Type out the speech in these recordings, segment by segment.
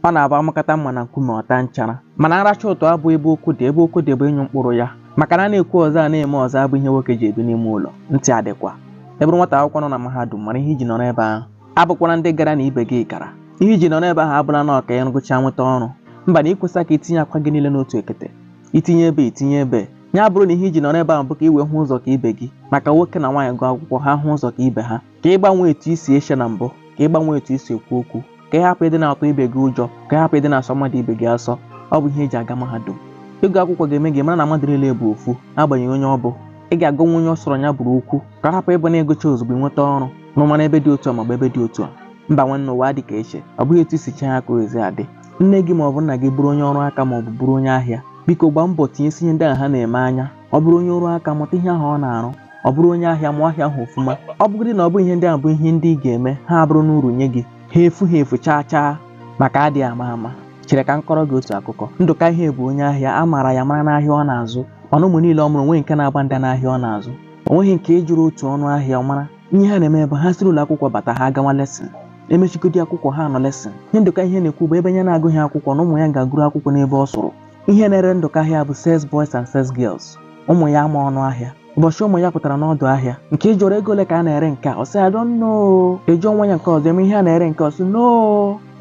ọ na-abụ amakata mma na nkume ọta nchara mana nracha ụtọ abụ ebe okwu dị ebe okwu dị bụ ịnyụ mkpụrụ ya maka na a na-ekwu ọzọ a na-eme ọzọ abụ ihe nwoke ji ebi n'ime ụlọ ntị adịkwa ị bụrụ nwata akwụkwọ nọ na mahadum mara ihe iji nọrọ ebe ahụ abụkwara ndị gara na ibe gị gara ihe iji nọrọ ebe ahụ abụla na ọ ka ị gụcha nweta ọrụ mba na ikwesa ka itinye akwa gị niile n'otu ekete itinye ebe itinye ebe ya bụrụ na ihe iji nọrọ ebe ahụ bụ ka i wee hụ ụzọ ka ibe gị maka nwoke na nwaanyị gụọ akwụkwọ ha hụ ụzọ ka ibe ha ka ị gbanwee etu i si eche na mbụ ka ị gbanwee etu i si ekwu okwu ka ị hapụ ịdị na-atụ ibe gị ụjọ ka ị hapụ ịdị na-asọ mmadụ ibe gị asọ ọ bụ ihe eji aga mahadum ịgụ akwụkwọ ga-eme gị mara na mmadụ niile bụ ofu n'agbanyeghị onye ọ bụ ị ga-agwanwu onye ọ sọrọ ya bụrụ okwu ka hapụ ịbụ na ịgụcha ozugbo ịnweta ọrụ n'ụmara ebe dị otu a maọbụ ebe dị otu a mba nwanne ụwa dị ka eche ọ bụghị etu isi chee ya ka ezi adị nne gị maọbụ nna gị bụrụ onye ọrụ aka maọbụ bụrụ onye ahịa biko gbaa mbọ tinyesi ihe ndị ahụ ha na-eme anya ọ bụrụ onye ọrụ aka mụta ihe ahụ ọ na-arụ ọ bụrụ onye ahịa mụọ ahịa ahụ ofuma ọ bụgodi na ọ bụ ihe ndị ahụ bụ ihe ndị ị ga-eme ha abụrụ n'uru nye gị ha efu ha efu chaa chaa maka adịghị ama ama chere ka m kọrọ gị otu akụkọ ndụka ihe bụ onye ahịa a maara ya mara n'ahịa ọ na-azụ mana ụmụ niile ọ mụrụ onweghị nke na-agba nda n'ahịa ọ na-azụ onweghị nke ị jụrụ otu ọnụ ahịa ọ mara ihe ha na-eme bụ ha siri ụlọ akwụkwọ bata ha agawa lesson emechigodi akwụkwọ ha nọ lesson ihe ndụka ihe na-ekwu bụ ebe ya na-agụghị akwụkwọ na ụmụ ya ga-agụru akwụkwọ n'ebe ọ sụrụ ihe na-ere ndụka ahịa bụ sales boys and sales girls ụmụ ya ama ọnụ ahịa ụbọchị ụmụ ya pụtara n'ọdụ ahịa nke ị jụrụ ego ole ka a na-ere nke a ọ sị i don't know ị jụọ nwa ya nke ọzọ eme ihe a na-ere nke ọ sị no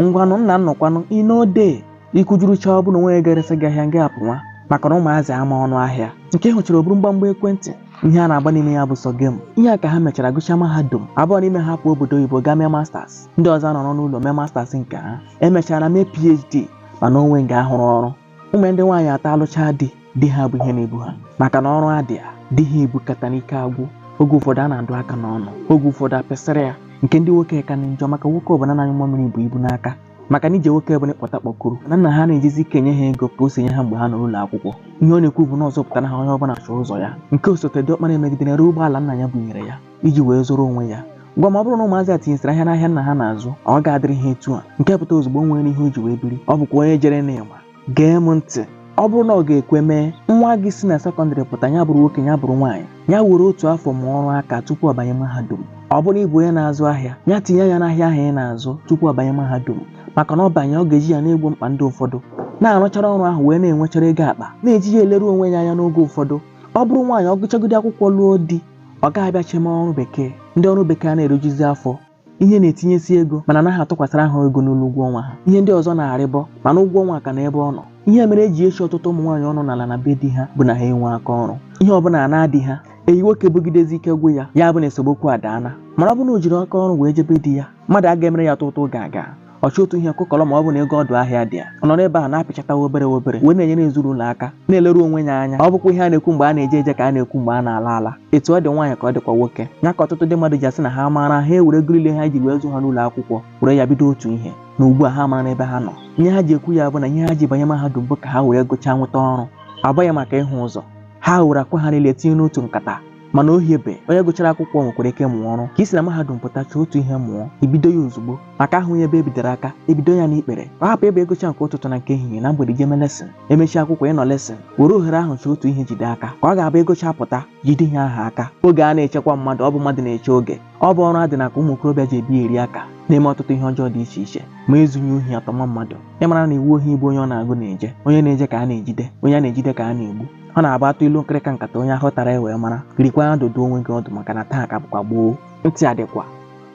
ngwanụ nna nnọkwanụ ị nọdụ ikujuru chaa ọ bụ na onwe ya ga-eresa gị ahịa nga apụ nwa maka na ụmụazị ama ọnụ ahịa nke hụchara o buru mgbamgba ekwentị ihe a na-agba n'ime ya bụ sọ game ihe a ka ha mechara gụchaa mahadum abụọ n'ime ha pụọ obodo oyibo gaa mee masters ndị ọzọ nọrọ n'ụlọ mee masters nke ha emechara mee phd mana onwe nga ahụrụ ọrụ ụmụ ndị nwaanyị atọ alụchaa di di ha bụ ihe na-ebu ha maka na ọrụ adị ya di ha ebukata n'ike agwụ oge ụfọdụ a na-adụ aka n'ọnụ oge ụfọdụ apịsịrị ya nke ndị nwoke ka na njọ maka nwoke ọbụla na-anyụ mmamịrị bu ibu n'aka maka na ije nwoke bụ na ị kpọta kpọkuru na nna ha na-ejizi ike nye ha ego ka o si nye ha mgbe ha nọ n'ụlọ akwụkwọ ihe ọ na-ekwu bụ na ọ zụpụtara ha onye ọbụla chọọ ụzọ ya nke osote diọkpara emegide ree ụgbọala nna ya bunyere ya iji wee zụrụ onwe ya gwa m ma ọ bụrụ na ụmụazị a tinyesịrị anya n'ahịa nna ha na-azụ ọ ga-adịrị ha etu a nke pụta ozugbo nwere ihe o ji wee biri ọ bụkwa onye jere n'ịma gee m ntị ọ bụrụ na ọ ga-ekwe mee nwa gị si na sekọndịrị pụta ya bụrụ nwoke ya bụrụ nwaanyị ya were otu afọ mụọ ọrụ aka tupu ọ banye mahadum ọ bụrụ ịbụ onye na-azụ ahịa ya tinye ya n'ahịa ahụ ị na-azụ tupu ọ banye mahadum maka na ọ banye ọ ga-eji ya na-egbo mkpa ndị ụfọdụ na-arụchara ọrụ ahụ wee na-enwechara ego akpa na-eji ya eleru onwe ya anya n'oge ụfọdụ ọ bụrụ nwaanyị ọ gụchagodi akwụkwọ lụọ di ọ gaghị abịa cheme ọrụ bekee ndị ọrụ bekee a na-erijuzi afọ ihe na-etinyesi ego mana anaghị atụkwasịra ha ego n'elu ụgwọ ọnwa ha ihe ndị ọzọ na-arịgo mana ụgwọ ọnwa ka nọ ebe ọ nọ ihe mere eji echi ọtụtụ ụmụ nwaanyị ọnụ n'ala na be di ha bụ na ha enwe aka ọrụ ihe ọbụla a na-adị ha eyi nwoke bugidezi ike gwụ ya ya bụ na esemokwu adaana mana ọ bụ na o jiri aka ọrụ wee jebe di ya mmadụ aga emere ya tụtụ ga aga ọchị otu ihe kụkọrọ ma ọ bụ na ego ọdụ ahịa dị ya ọ nọrọ ebe ahụ na-apịchata obere obere wee na-enyere ezinụlọ aka na-eleru onwe ya anya ọ bụkwa ihe a na-ekwu mgbe a na-eje eje ka a na-ekwu mgbe a na-ala ala etu ọ dị nwaanyị ka ọ dịkwa nwoke ya ka ọtụtụ ndị mmadụ ji asị na ha maara ha ewere ego niile ha ji wee zụ ha n'ụlọ akwụkwọ were ya bido otu ihe na ugbu a ha amara ebe ha nọ ihe ha ji ekwu ya bụ na ihe ha ji banye mahadum bụ ka ha were gụchaa nweta ọrụ ọ bụghị maka ịhụ ụzọ ha were akwa ha niile tinye n'otu nkata mana o hiebe onye gụchara akwụkwọ nwekwara ike mụọ ọrụ ka i si na mahadum pụta chọọ otu ihe mụọ i bido ya ozugbo maka a hụghị ebe e bidoro aka e bido ya n'ikpere ka ọ hapụ ịbụ ị gụcha nke ụtụtụ na nke ehihie na mgbede i jeme lesson e mechie akwụkwọ ị nọ lesson were ohere ahụ chọọ otu ihe jide aka ka ọ ga-abụ ị gụcha pụta jide ihe ahụ aka oge ana echekwa mmadụ ọ bụ mmadụ na-eche oge ọ bụ ọrụ adị n'aka ụmụ okorobịa ji ebiari aka na-eme ọtụtụ ihe ọjọọ dị iche iche ma e zughị ohi a tọma mmadụ ị mara na iwu ohi bụ onye ọ na-agụ na-eje onye na-eje ka a na-ejide onye a na-ejide ka a na-egbu ọ na-abụ a tụọ ilu nkịrịka nkata onye ahụ tara ewee mara jirikwa ya dụdo onwe gị ọdụ maka na taa ka bụkwa gboo ntị adịkwa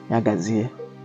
ya gazie